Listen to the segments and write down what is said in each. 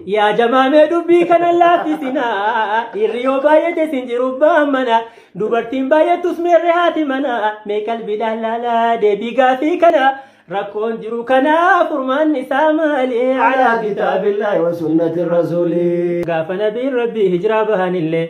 Yaa jamaa mee dubbii kana laaffisinaa dhiirri yoo baay'ate sin jiru ba'an mana dubartiin baay'attus meerre haati mana mee qalbiidhaan laalaa deebii gaafii kana rakkoon jiru kana furmaanni isaa maali Alaa kitaabillahi wa sunnati rasuulii. gaafa nabiin rabbii hijiraa bahanillee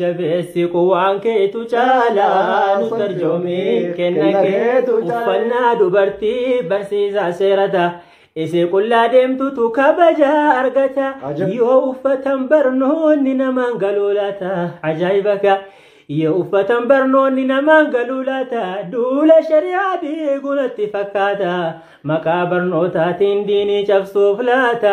jabeessi quwaan keetu caalaa nu tarjoomi kenna keetu uffannaa dubartii barsiisaa seerata isee qullaa deemtutu kabaja argata yoo uffatan barnoonni namaan galuu laata ajaa'iba ka yoo uffatan barnoonni namaan galuu laata duula shari'aa diigunatti fakkaata maqaa barnootaatiin diinii cabsuuf laata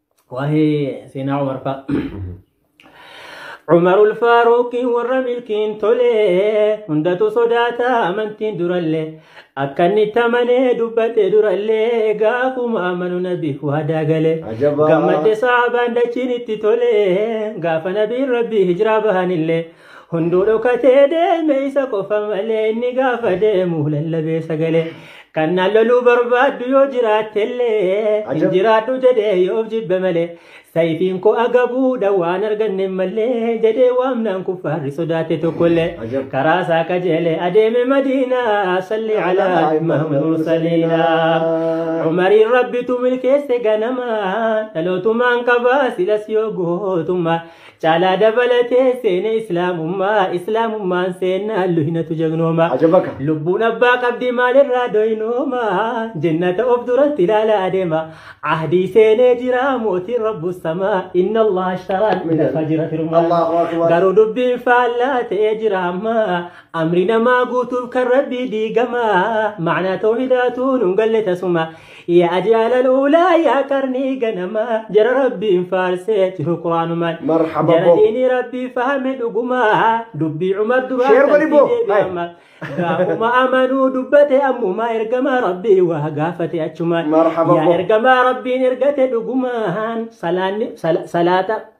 Waa'ee seenaa Umar fa'a. Umar Ulfaaruuqiin warra milkiin tolee hundatu sodaata amantiin durallee akka inni tamanee dubbate durallee gaafuma amanu nabi waadaa galee Ajabaa. gammadde saabaan dachiin itti tolee gaafa nabiin rabbii hijiraa bahanillee Hunduu dhokatee deeme isa qofa malee inni gaafa deemu lallabee sagalee. Kan naan loluu barbaaddu yoo jiraattellee hin Ajab. jiraadhu jedhee yoof jibbe malee. Sayifiin koo agabuudha waan arganne malee jedhee waamnaan kuffaarri sodaate tokkollee. Ajab. Karaa isaa qajeelee adeeme madiinaa salli alaa imaam mursaliinaa. Umariin rabbitu milkeesse ganama dhalootumaan qabaa silas yoo gootummaa Caalaa dabalatee seene islaamummaa islaamummaan seennaan luhinatu jagnooma. Ajabaka. Lubbuun abbaa qabdi maalirraa doynooma jennata of duratti ilaala adeema ahdii seenee jira mootiin rabbu samaa inna allah ashtaraa lafa jira firmaa Allahu akbar. garuu dubbiin faallaa ta'ee jira amma amri namaa guutuuf kan rabbii diigama macnaa tawhidaatuun hin galle tasuma Yaa jaalal ulaa yaa qarnii ganamaa jara rabbiin faarsee jiru quraanumaan Marhaba jara bo. diinii rabbii fahame dhugumaa dubbii cumar duraa Sheer godhi bo. qalbii deebi'ama gaafuma amanuu dubbate ammumaa ergamaa rabbii waa gaafate achumaan Marhaba yaa bo. ergamaa rabbiin ergate dhugumaan salaanni sala- salaata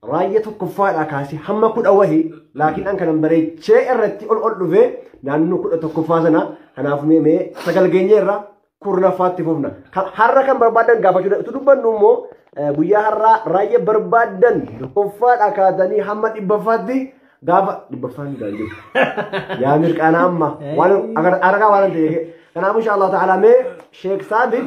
Raayya tokkoffaadhaa kaasee hamma kudha wahi laakiin an kanan bareechee irratti ol ol dhufee naannoo kudha tokkoffaa sana kanaaf mee mee sagal geenyee irraa kurnaffaatti fufna. Ka- Har'a kan barbaadan gaafachuu danda'u. Utuu dubbannu immoo eh, guyyaa har'aa raayya barbaadan tokkoffaadhaa kaatanii hamma dhibbaffaatti gaafa dhibbaffaa ni gaa'e jiru. Yaa mirqaana amma waan argaa waan ta'eef. Kanaaf insha Allah ta'ala mee Sheek Saabit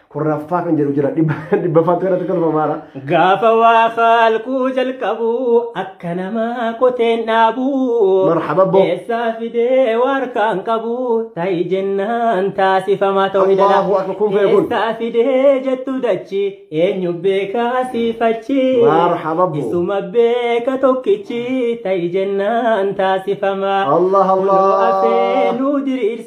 kurnaffaa kan jedhu jira dhibbaffaatu irratti kolfamaara. Gaafa waa haalkuu jalqabu akka namaa qoteen dhaabu. Marhaba bo. Keessaa fidee waa harkaan qabu ta'i jennaan taasifama ta'uu ni danda'a. Allahu akbar, kun beekun. Keessaa fidee jettu dachi eenyu beekaa siifachi. Marhaba bo. Isuma beeka tokkichi ta'i jennaan taasifama. Allah Kunoo Allah. afee nuu diriirsa.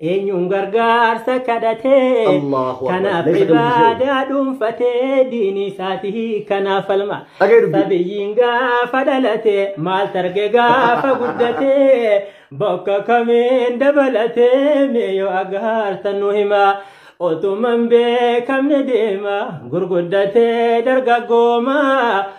Eenyuun gargaarsa kadhatee Allahu Akbar. kanaaf Meeshaa dubbisee. ibaadaa dhuunfatee diinii isaatii kanaaf falma. Dhaga'ee dubbii. Sabiyyiin gaafa dhalate maal targe gaafa guddate bakka kamiin dabalate mee yoo agaarta nu hima. Otuman beekamne deema gurguddatee dargaggooma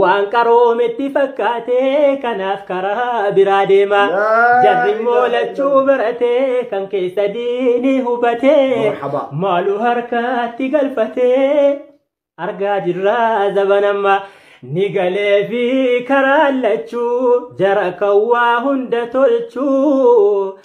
Waan qaroometti fakkaatee kanaaf karaa biraa deema. Laa Jarri immoo ilaaha lachuu illallah. baratee kan keessa diini hubatee Marhaba. maalu harkatti galfatee argaa jirraa zabanamma ni galee fi karaa lachuu jara kan waa hunda tolchuu